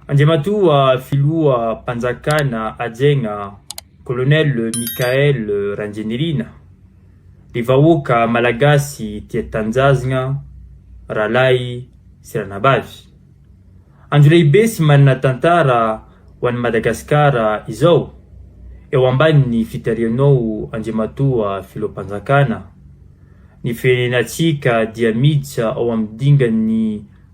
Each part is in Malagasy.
Andriamatoa Filoha Mpanjakana Hajaigna Colonel Michael Randrianirina, ry vahoaka Malagasy tia tanjazgna, rahalahy sy ranabavy. Andro lehibe sy manana tantara ho an'i Madagasikara izao, eo ambanin'ny fitarihanao Andriamatoa Filoham-panjakana. Ny firenenantsika dia miditra ao amin'ny dingan'ny.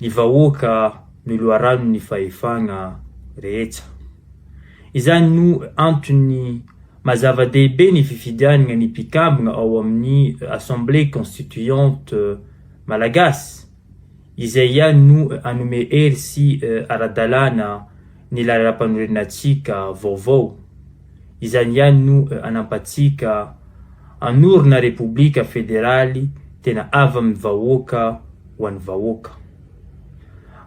ny vahoaka no loharanon'ny fahefagna rehetsa. Izany no antony maha zava-dehibe ny fifidianagna ny mpikambagna ao amin'ny Assemblée Constituante Malagasy, izay ihany no hanome hery sy ara-dalàna ny lalàmpanorenantsika vaovao. Izany ihany no anampatsika hanorina Repoblika Federaly tena avy amin'ny vahoaka ho an'ny vahoaka.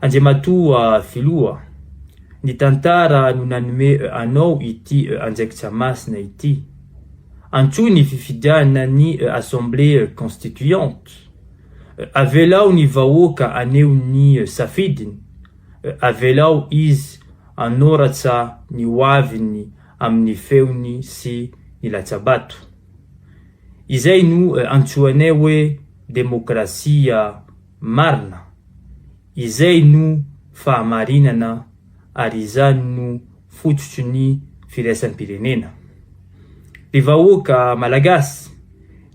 Andriamatoa Filoha, ny tantara no nanome anao ity andraikitra masina ity. Antsoy ny fifidianana ny Assemblée Constituante. Avelao ny vahoaka haneho ny safidiny. Avelao izy hanoratra ny hoaviny amin'ny feony sy ny latsabato. Izay no antsoinay hoe demokrasia marina. Izay no fahamarinana ary izany no fototry ny firaisam-pirenena. Ry vahoaka Malagasy,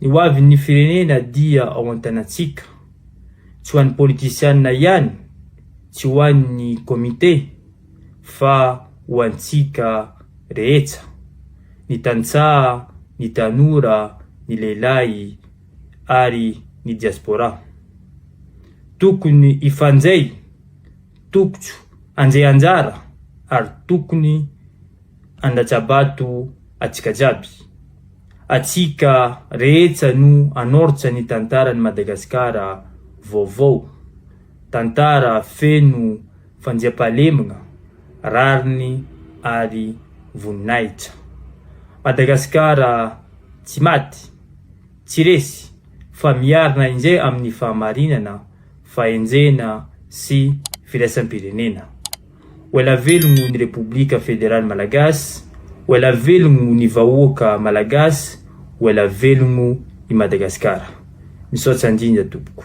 ny hoavin'ny firenena dia ao an-tanantsika. tsy ho an'ny politisiana ihany, tsy ho an'ny comité fa ho antsika rehetsa, ny tantsaha, ny tanora, ny lehilahy ary ny diaspora. Tokony hifanjay, tokotso hanjay anjara ary tokony handatsa-bato atsika jiaby. Atsika rehetsa no anortsa ny tantaran'i Madagasikara vaovao. Tantara feno fandiam-pahalemgna, rariny ary voninahitra. Madagasikara tsy maty, tsy resy fa miarina injay amin'ny fahamarinana, fahenjena sy firaisam-pirenena. Ho ela velogno ny Repoblika Federaly Malagasy, ho ela velogno ny vahoaka Malagasy, ho ela velogno i Madagasikara. Misaotsa indrindra tompoko.